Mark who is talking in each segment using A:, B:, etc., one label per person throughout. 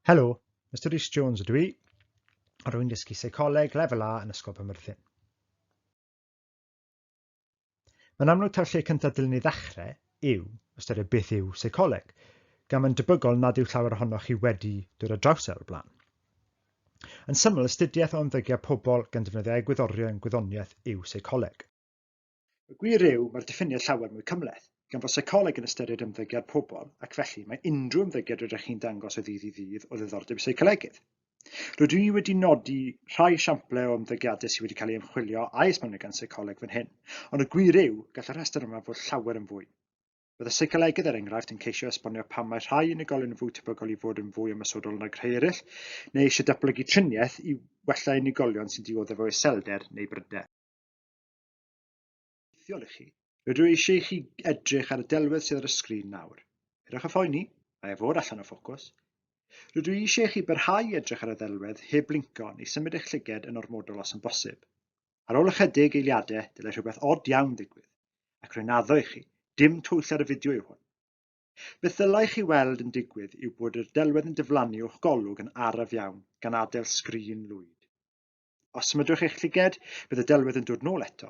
A: Helo, Mr Rhys Jones ydw i, a rwy'n dysgu seicoleg lefel A yn Ysgol Penmyrthyn. Mae'n amlwg ta'r lle cyntaf dylen ni ddechrau yw ystyried beth yw seicoleg, gan mae'n debygol nad yw llawer ohonoch chi wedi dod â draws e o'r blaen. Yn syml, astudiaeth o ymddygiad pobl gan defnyddio egwyddorion gwyddoniaeth yw seicoleg. Y gwir yw, mae'r diffiniad llawer mwy cymhleth, gan fod seicoleg yn ystyried ymddygiad pobl ac felly mae unrhyw ymddygiad rydych chi'n dangos o ddydd i ddydd o ddiddordeb i seicolegydd. Rydw i wedi nodi rhai esiamplau o ymddygiadau sydd wedi cael ei ymchwilio a'i esbonio gan seicoleg fan hyn, ond y gwir yw, gall y rhestr yma fod llawer yn fwy. Bydd y seicolegydd, er enghraifft, yn ceisio esbonio pam mae rhai unigolion yn fwy tebygol i fod yn fwy ymosodol nag rhai eraill, neu eisiau datblygu triniaeth i wella unigolion sy'n dioddef o iselder neu bryder. obeithiol i chi. Rydw i eisiau i chi edrych ar y delwedd sydd ar y sgrin nawr. Peidiwch â phoeni, mae e fod allan o ffocws. Rydw i eisiau i chi barhau i edrych ar y ddelwedd heb blinco neu symud eich llyged yn ormodol os yn bosib. Ar ôl ychydig eiliadau, dylai rhywbeth od iawn ddigwydd, ac rwy'n addo i chi, dim twyll ar y fideo yw hwn. Beth ddylai chi weld yn digwydd yw bod yr delwedd yn diflannu o'ch golwg yn araf iawn, gan adael sgrin lwyd. Os symudwch eich lliged, bydd y delwedd yn dod nôl eto.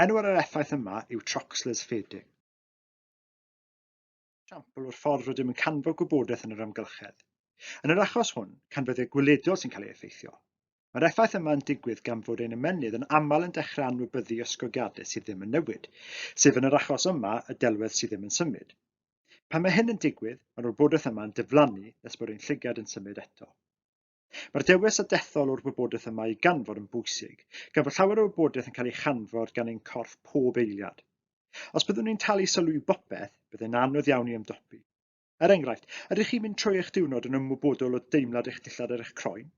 A: Enw ar yr effaith yma yw Troxler's fading. Siampl o'r ffordd rydym yn canfod gwybodaeth yn yr amgylchedd. Yn yr achos hwn, canfyddiad gweledol sy'n cael ei effeithio. Mae'r effaith yma yn digwydd gan fod ein ymennydd yn aml yn dechrau anwybyddu ysgogiadau sydd ddim yn newid, sef yn yr achos yma y delwedd sydd ddim yn symud. Pan mae hyn yn digwydd, mae'r wybodaeth yma yn diflannu nes bod ein lligad yn symud eto. Mae'r dewis a dethol o'r wybodaeth yma i ganfod yn bwysig, gan fod llawer o wybodaeth yn cael ei chanfod gan ein corff pob eiliad. Os byddwn ni'n talu sylw i bopeth, byddai'n anodd iawn i ymdopi. Er enghraifft, ydych chi'n mynd trwy eich diwrnod yn ymwybodol o deimlad eich dillad ar eich croen?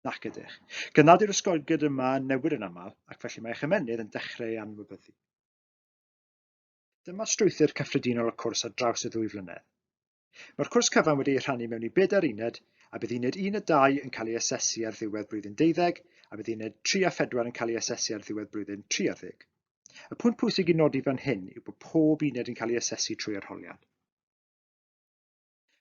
A: Nac ydych. Gan nad yw'r ysgogiad yma yn newid yn aml, ac felly mae eich ymennydd yn dechrau ei anwybyddu. Dyma strwythur cyffredinol y cwrs ar draws y ddwy flynedd. Mae'r cwrs cyfan wedi ei rhannu mewn i bedair uned, a bydd uned 1 a 2 yn cael ei asesu ar ddiwedd blwyddyn deuddeg, a bydd uned 3 a 4 yn cael ei asesu ar ddiwedd blwyddyn tri ar ddeg. Y pwynt pwysig i nodi fan hyn yw bod pob uned yn cael ei asesu trwy arholiad.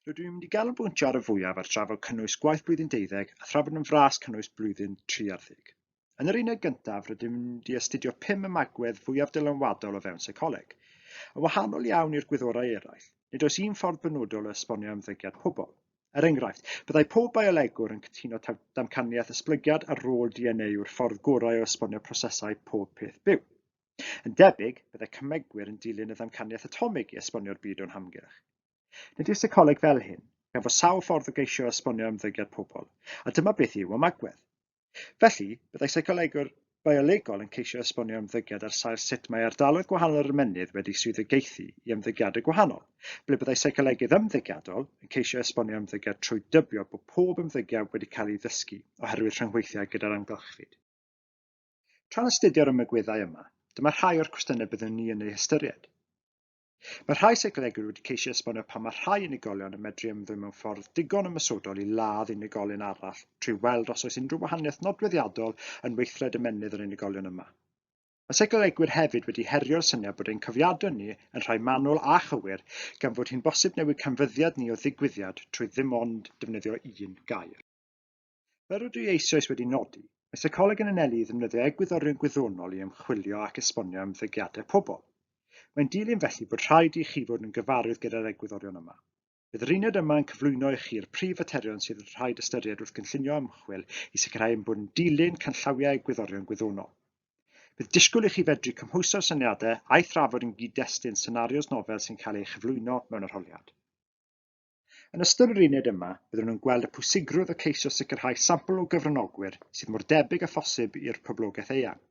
A: Rydw i'n mynd i ganolbwyntio ar y fwyaf ar drafod cynnwys gwaith blwyddyn deuddeg a thrafod yn fras cynnwys blwyddyn tri ar ddeg. Yn yr uned gyntaf, rydym wedi astudio pum ymagwedd fwyaf dylanwadol o fewn seicoleg. Yn wahanol iawn i'r gwyddorau eraill, nid oes un ffordd benodol o esbonio ymddygiad pobl. Er enghraifft, byddai pob biolegwr yn cytuno taw damcaniaeth esblygiad a rôl DNA yw'r ffordd gorau o esbonio prosesau pob peth byw. Yn debyg, byddai cymegwyr yn dilyn y ddamcaniaeth atomig i esbonio'r byd o'n hamgylch. Nid yw seicoleg fel hyn, gan fod sawl ffordd o geisio esbonio ymddygiad pobl, a dyma beth yw ymagwedd. Felly, byddai seicolegwr biolegol yn ceisio esbonio ymddygiad ar sail sut mae ardaloedd gwahanol yr ymennydd wedi swyddogaethu i ymddygiadau gwahanol, ble byddai seicolegydd ymddygiadol yn ceisio esbonio ymddygiad trwy dybio bod pob ymddygiad wedi cael ei ddysgu oherwydd rhyngweithiau gyda'r amgylchfyd. Tra'n astudio'r ymagweddau yma, dyma rhai o'r cwestiynau byddwn ni yn eu hystyried. Mae rhai seicolegwyr wedi ceisio esbonio pam mae rhai unigolion yn medru ymddwyn mewn ffordd digon ymosodol i ladd unigolyn arall trwy weld os oes unrhyw wahaniaeth nodweddiadol yn weithred ymennydd yr unigolion yma. Mae seicolegwyr hefyd wedi herio'r syniad bod ein cofiadau ni yn rhai manwl a chywir gan fod hi'n bosib newid canfyddiad ni o ddigwyddiad trwy ddim ond defnyddio un gair. Fel rydw i eisoes wedi nodi, mae seicoleg yn anelu i ddefnyddio egwyddorion gwyddonol i ymchwilio ac esbonio ymddygiadau pobl. Mae'n dilyn felly bod rhaid i chi fod yn gyfarwydd gyda'r egwyddorion yma. Bydd yr uned yma yn cyflwyno i chi'r prif faterion sydd yn rhaid ystyried wrth gynllunio ymchwil i sicrhau ein bod yn dilyn canllawiau egwyddorion gwyddonol. Bydd disgwyl i chi fedru cymhwyso'r syniadau a'i thrafod yn gyd-destun senarios nofel sy'n cael ei chyflwyno mewn arholiad. Yn ystod yr uned yma, byddwn yn gweld y pwysigrwydd o ceisio sicrhau sampl o gyfranogwyr sydd mor debyg â phosib i'r poblogaeth eang.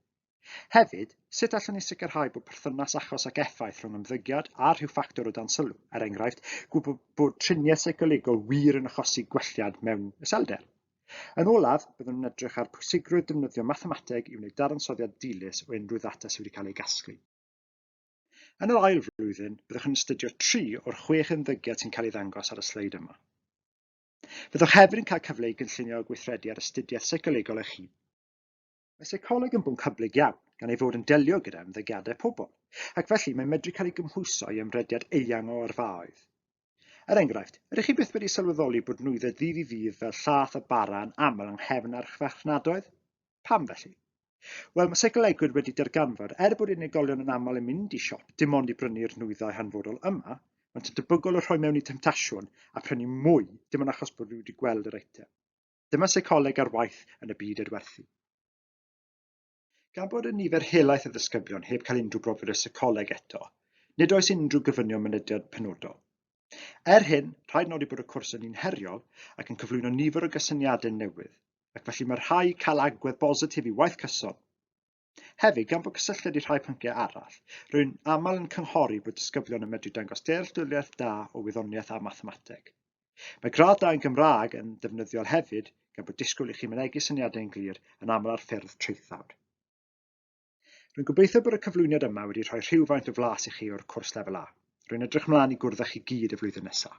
A: Hefyd, sut allwn ni sicrhau bod perthynas achos ac effaith rhwng ymddygiad a rhyw ffactor o dan sylw, er enghraifft, gwybod bod triniaeth seicolegol wir yn achosi gwelliad mewn iselder? Yn olaf, byddwn yn edrych ar pwysigrwydd defnyddio mathemateg i wneud dadansoddiad dilys o unrhyw ddata sydd wedi cael ei gasglu. Yn yr ail flwyddyn, byddwch yn astudio tri o'r chwech ymddygiad sy'n cael ei ddangos ar y sleid yma. Byddwch hefyd yn cael cyfle i gynllunio a gweithredu ar astudiaeth seicolegol eich hun. Mae seicoleg yn bwnc hyblyg iawn, gan ei fod yn delio gyda ymddygiadau pobl, ac felly mae'n medru cael ei gymhwyso i ymrediad eang o arfaoedd. Er enghraifft, ydych chi byth wedi sylweddoli bod nwyddau ddydd i ddydd fel llath a bara yn aml yng nghefn archfarchnadoedd? Pam felly? Wel, mae seicolegwyr wedi darganfod, er bod unigolion yn aml yn mynd i siop dim ond i brynu'r nwyddau hanfodol yma, maent yn debygol o rhoi mewn i temtasiwn a prynu mwy dim ond achos bod nhw wedi gweld yr eitem. Dyma seicoleg ar waith yn y byd adwerthu. Gan bod y nifer helaeth o ddisgyblion heb cael unrhyw brofiad o seicoleg eto, nid oes unrhyw gofynion mynediad penodol. Er hyn, rhaid nodi bod y cwrs yn un heriol ac yn cyflwyno nifer o gysyniadau newydd, ac felly mae rhai cael agwedd bositif i waith cyson. Hefyd, gan bod cysylltiad i rhai pynciau arall, rwy'n aml yn cynghori bod disgyblion yn medru dangos dealltwriaeth da o wyddoniaeth a mathemateg. Mae graddau yn Gymraeg yn ddefnyddiol hefyd, gan bod disgwyl i chi mynegi syniadau'n glir yn aml ar ffurf traethawd. Rwy'n gobeithio bod y cyflwyniad yma wedi rhoi rhywfaint o flas i chi o'r cwrs Lefel A. Rwy'n edrych mlaen i gwrdd â chi gyd y flwyddyn nesaf.